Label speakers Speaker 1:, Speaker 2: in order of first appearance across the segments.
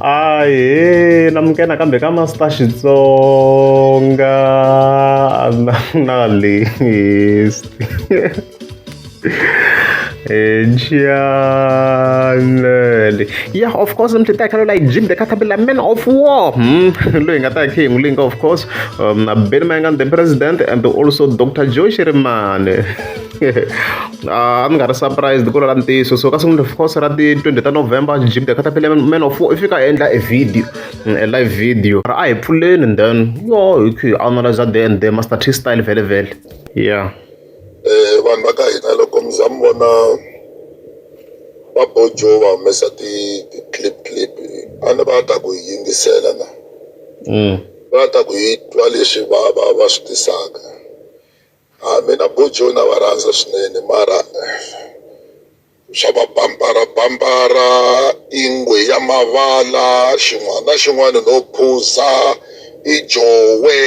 Speaker 1: Ahee namuke nakambe ka Master Xitsonga na na list Ejanele yeah of course mthi ta khala like Jim the Caterpillar man of war hmm loyi nga ta khe ngulinga of course um Benny Mayengani the president and also Dr. Joy Shirimane a ni nga ri surprised ku lala ntiyiso so ka sungula course ra ti 20 ta november jim the catapile man of i fika endla a video mm, a live video ra a hi pfuleni and then yo hi khi analyze the and the master t style vele vele yeah eh
Speaker 2: vanhu va ka hina loko mi za mi vona va bojo va humesa ti clip clip a ni va ta ku yingisela na mm. va ta ku yi twa leswi va va va swi tisaka A mina Bojo na va rhandza swinene mara swa va bambara bambara i ngwe ya mavala xin'wana na xin'wana no phuza i jowe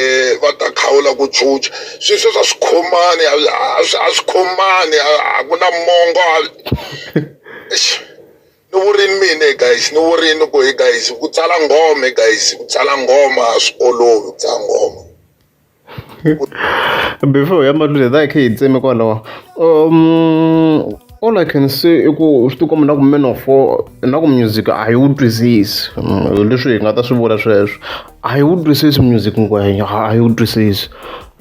Speaker 2: va ta kha u la ku chucha swi sweswi a swi khomani a swi a swi khomani a ku na mongo a eish ni vurini mina guys ni vurini ku he guys ku tsala nghoma guys ku tsala nghoma a swi olovi ku tsala nghoma.
Speaker 1: before hi ya mahlweni hi kha hi tseme kwalaho um all i can say i ku swi tikomba na ku man of four na ku music a yi wu twisisi mm, leswi hi nga ta swi vula sweswo a yi wu twisisi music ngwenya a yi wu twisisi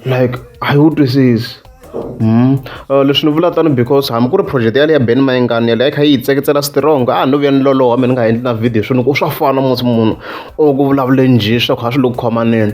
Speaker 1: like a yi wu twisisi Mm. Uh, leswi ni vula tano because hambi ku ri project yale ya ben mayingani yale a yi kha yi yi tseketsela strong a no vuya ni loloha mina ni nga endli na video swini ku swa fana musi munhu o ku vulavule njhe swa ku ha swi lo ku khomaneni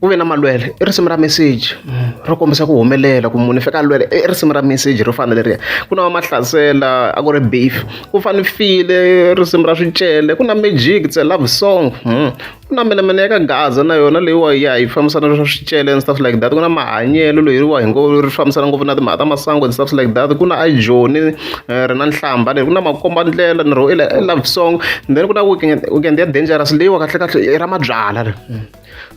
Speaker 1: ku ve na malwele i risimu ra meseji ro kombisa ku humelela ku munhu i fika lwele i risimu ra meseji ro fana leriya ku na vamahlasela a ku ri beef ku fane file risimu ra swicele ku na magic tse love song hmm. ku na mina mina ya ka gaza na yona leyiwa ya yi fambisana na swa swicele and stuff like that ku na mahanyelo loyiriwa hi ngo ri fambisana ngopfu na timhaka ta masangu and stuff like that ku na ajoni eh, ri na nhlamba leri ku na makombandlela ni ro i love song then ku na weekend ya dangerous leyiwa kahlekahle i ra mabyala ri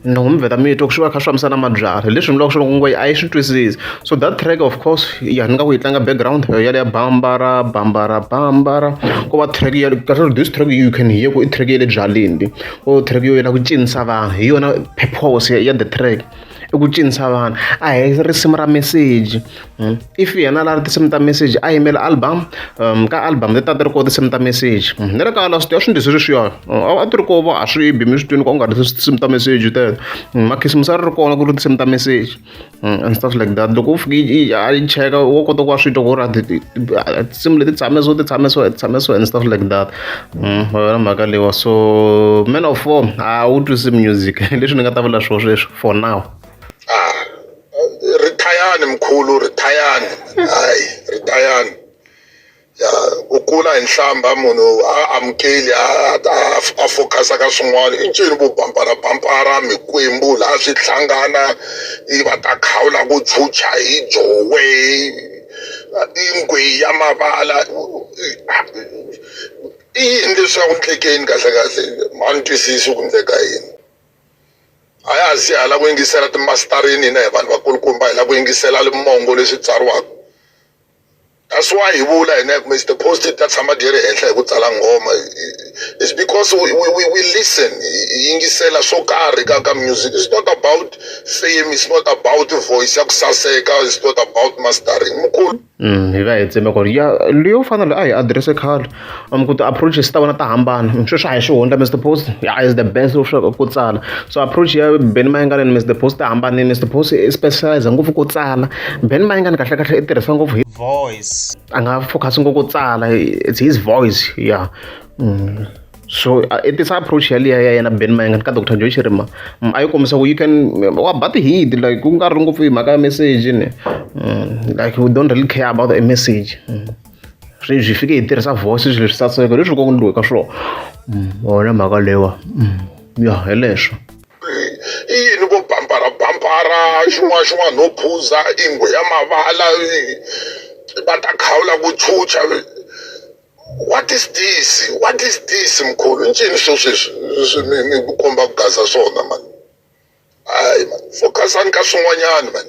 Speaker 1: ni n'wi vheta mito ku swi va kha swi fambisa na mabyalwa leswi ni vulaka swi loko a yi swi twisisi so that track of course ya ni nga ku yi tlanga background ya leya bambara bambara bambara ko va track ya kahle this track you can hear ku i track ya le byaleni o track yo yela ku cinisa vanhu hi yona purpose ya the track i ku cinisa vanhu a hi risimu ra meseji Hmm? if yena la ri tinsimu ta message a yimela album um, ka album leti a ti ri koho tinsimu ta message hmm, ni ri kala swi tiva swi ndzi swi ri swiyo a ti ri koho va a swi bi mi swi twini ka u nga ri tinsimu ta message teto hmm, makhisimusi a ri ri kona ku ri tinsimu ta message and stuff like that loko u fike a yi cheka wo kota ku va swi twa ku ri tinsimu leti tshame so ti tshame so ti tshame so and stuff like that va vona mhaka leyiwa so man of four a wu twisi music leswi ni nga ta vula swo sweswo for now
Speaker 2: rithayani mkhulu rithayani hayi rithayani ya u kula hi nhlamba munhu a amukeli a focus-a ka swin'wana i ncini vo bamparabampara mikwembu laha swi hlangana i va ta khawula ku chucha hi jowe i ngwe ya mavala i yini leswi a ku endlekeni kahlekahle a ni twisisi ku endleka yini. a ya ha siya hi lava ku yingisela timasitarini hina hi vanhu vakulukumba hi lava ku yingisela limongo leswi tsariwaka that's why hi vula hina hi kumbe ti-post ta tshama ti ri henhla hi ku tsala nghoma it's because we, we, we, we listen hi yingisela swo karhi ka ka music it's not about fame it's not about voice ya ku saseka it's not about mastering mukulu hi va hi tseme
Speaker 1: ku ri ya leyo fana na leyi a hi adirese khale mi ku ti-approaches ta vona ta hambana sweswi a hi swi hundla Mister Boss ya is the best of swa ku tsala so approach ya Benny Mayengani and Mister Boss ti hambanile Mister Boss i specialise ngopfu ku tsala Benny Mayengani kahlekahle i tirhisa ngopfu hi voice a nga focus ngopfu ku tsala it's his voice ya. so uh, i tisa approach yaliya ya yena ben mayengani ka dr joy shirima mm, a yi kombisa ku you can wa ba tihidi like ku nga ri ngopfu hi mhaka ya message ni mm, like we don't really care about a message mm. sweswi fike hi tirhisa voice swilo swi saseka leswi ko ndliwe ka swona wona mhaka lewa
Speaker 2: ya hi
Speaker 1: leswo i
Speaker 2: yini vo
Speaker 1: bambara
Speaker 2: bambara xin'wana xin'wana no phuza ingwe ya mavala va ta khawula ku chucha What is this? What is this mkhulu? Incini swo sweswi mi mi ku komba ku gaza swona man. Hayi man, focusani ka swin'wanyana man.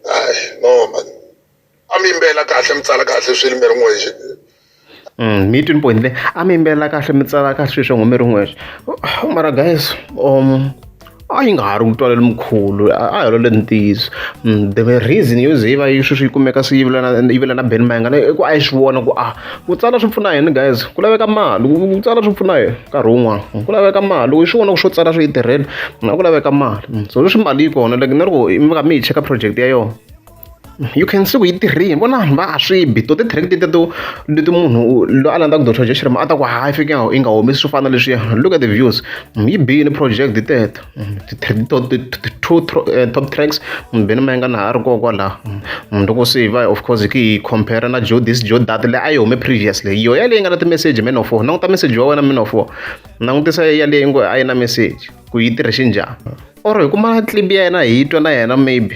Speaker 2: Hayi no man. A mi yimbela kahle mi tsala kahle swilo mi ri n'wexe. Mm,
Speaker 1: mi twini point le a mi yimbelela kahle mi tsala kahle sweswi ngo mi ri n'wexe mara guys um a yi nga ha ri mutwalo lomukulu a hi lole ntiyiso mm, the reason yo ze yi va yi sweswi yi kumeka swi yivela na beni mayingana i ku a yi swi vona ku a ah, ku tsala swi pfuna yini guys ku laveka mali ku tsala swi pfuna yini nkarhi wun'wana ku laveka mali loko yi swi vona ku swo tsala swi yi tirhela na ku laveka mali mm, so leswi mali yi kona like na loko mi nga mi yi cheka project ya yona you can see ku yi tirhini vona vanhu va a swi bi to ti-tract teto leti munhu loyi a landzaka doctor jeshirm a ta ku hayi fike yi nga humesi swo fana leswiya look at the views yi biyini project teto eh, top tracks beni ma yi nga na ha ri koho kwalaho loko se va of course ki yi compare na jo this jo dat leyi a yi hume previously yo yaleyi nga na ti-message man of war languta message wa wena man of war langutisa yaleyi ngo a yi na message ku yi tirhixi njhani or hi kuma clip ya yena hi yi twa na yena maybe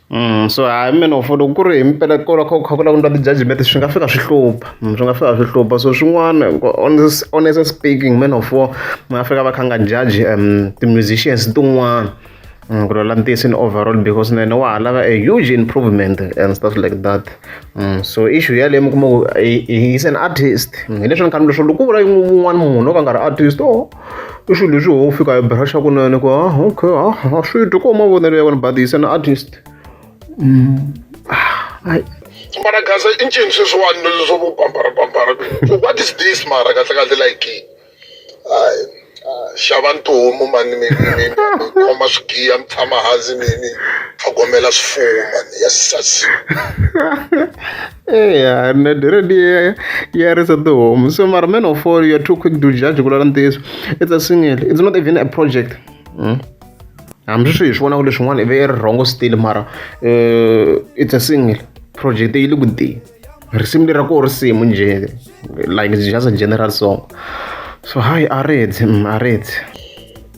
Speaker 1: so hayi mehe ni ngo for loko ku ri hi mpela ko la kha ku kha ku languta ti-judgement swi nga fika swi hlupha swi nga fika swi hlupha so swin'wana honestly speaking man of war mi nga fika va kha nga judge ti-musicians tin'wana ku lwela ntiyiso in overall because na yena wa ha lava a huge improvement and stuff like that mm. so issue yaleyo mi kuma ku he is an artist hileswi ni khanile swo loko ku vula un'wana munhu o ka nga ri artist o i swilo leswi ho fika hi brusha kunene ku ah okay ah a swi twi ko mavonelo ya wena but he's an artist
Speaker 2: mara gaza i ncini sweswiwani leswo vo bambara bambara so what is this mara kahle kahle like hayi xava ntihomu mani mi khoma swigiya mi tshama hansi mi mi tlhogomela swifuwo mani ya sasi
Speaker 1: eya na diredi ya ya risa tihomu so mara man of all you're too quick to judge ku lala ntiyiso it's a single it's not even a project mm. hambi swi hi swi vonaka leswin'wana ive i ri rhongo still mara uh, it's a single project yi le ku tiyeni risimu lera ko risimu nje like just a general song so hi a reds mm, a reds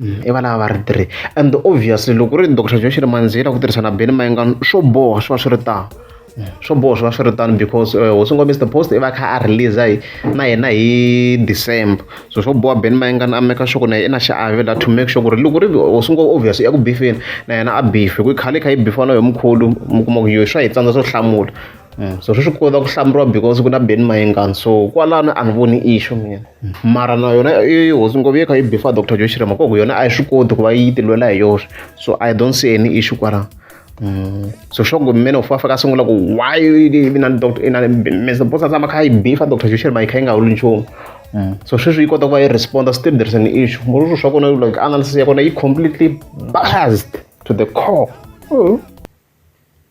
Speaker 1: I valava va ri three and obviously loko ku ri Doctor Joe Xirimandzila ku tirhisa na Benny Mayengani swo boha swi va swi ri tano swo boha swi va swi ri tano because hosi N'wa Mister Post i va a kha a release hi na yena hi December so swo boha Benny Mayengani a make sure ku na yena i na xiave la to make sure ku ri loko ku ri hosi N'wa obvious i ya ku bifeni na yena a bife hi ku khale i kha i bifiwa na yoho mkhulu mi kuma ku yo swa hi tsandza swo hlamula. so swi swi kota ku hlamuriwa because ku na Ben Mayengani so kwalano a ni voni issue mina mara na yona i hosi ngopfu yi kha yi bifa Dr Joe Chirema koku yona a yi swi koti ku va yi tilwela hi yoxe so I don't see any issue kwalano Mm. so sure ku mmene ufa faka sungula ku why ina doctor ina mr bosa sama kha ibifa doctor joshel mai kha inga ulu nchumu mm. so sweswi yi kota ku va yi responder still there's an issue murushu swa kona like analysis ya kona yi completely biased to the core mm.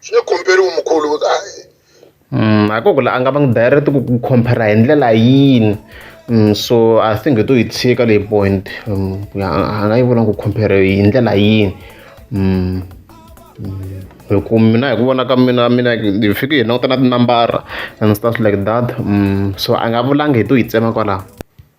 Speaker 2: swi nge khomperiwi mukhulu mm,
Speaker 1: a ko ku la a nga va ngi direct ku khompera hi ndlela yini mm, so i think hi to yi tshika leyi point mm, a nga yi vula ku khompera hi ndlela yini hi ku mina hi ku vona ka mina mina hi fike hi languta na tinambara and stuff like that so a nga vulangi hi to yi tsema kwalaho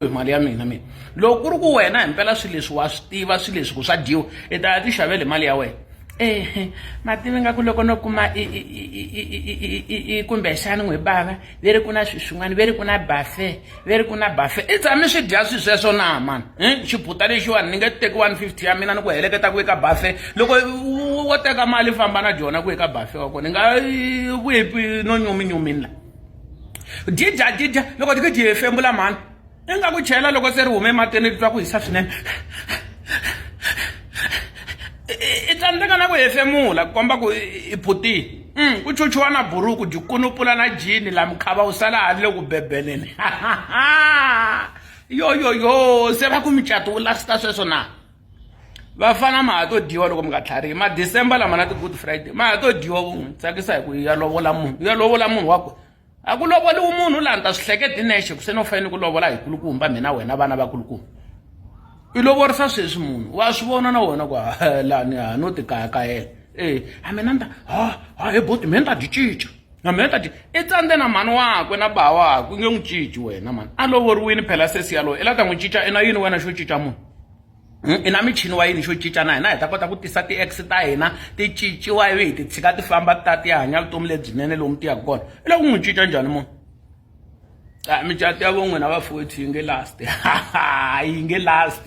Speaker 1: hi mali ya mina
Speaker 3: mina loko ku ri ku wena hi mpela swilo leswi wa swi tiva swilo leswi ku swa dyiwa i ta ya ti xavele mali ya wena ehe mativi nga ku loko no kuma kumbexani n'wi bava ve ri ku na swi swin'wana ve ri ku na bafe ve ri ku na bafe i tshami swi dya swi sweswo na mani um xibuta lexiwani ni nge teki one fifty ya mina ni ku heleketa ku eka bafe loko wo teka mali famba na dyona ku eka bafe wa kona ni nga ku no nyuminyumini la didya didya loko ti ku dyi hefemula mhani i nga ku chela loko se ri hume ematini ri twa ku hisa swinene i tsandzeka na ku hefemula ku komba ku i phutile mm, ku chuchuwa na buruku dyi kunupula na jini la mukhava wu sala ha ri le ku bebeleni yoyoyo se va ku mucato wu lasita sweswo na vafana ma ha to dyiwa loko mi nga tlharihi ma december lama na ti-good friday ma ha to dyiwa ku n'wi tsakisa hi ku ya lovola munhu ya lovola munhu wa ku a ku lovoliwi munhu laha ni ta swi hleketi nexe ku se no fanele ku lovola hi kulukumba mina wena vana va kulukumba i lovorisa sweswi munhu wa swi vona na wona ku lani ha no tikayakayela e a mina ni ta ha ha he boti mina ni ta byi cinca na mina tati i tsandze na mhani wakwe na ba wakwe u nge n'wi cinci wena mani a lovoriwini phela sesi yaloye i la ta n'wi cinca i na yini wena xo cinca munhu hmm, i na michini wa yini xo cinca na hina hi ta kota ku tisa ti-ex ta hina ti cinciwa ivi hi ti tshika ti famba ta ti ya hanya vutomi lebyinene lomu ti yaka kona i la ku n'wi cinca njhani munhu a micato ya vo n'wina vafowethu yi nge last yi nge last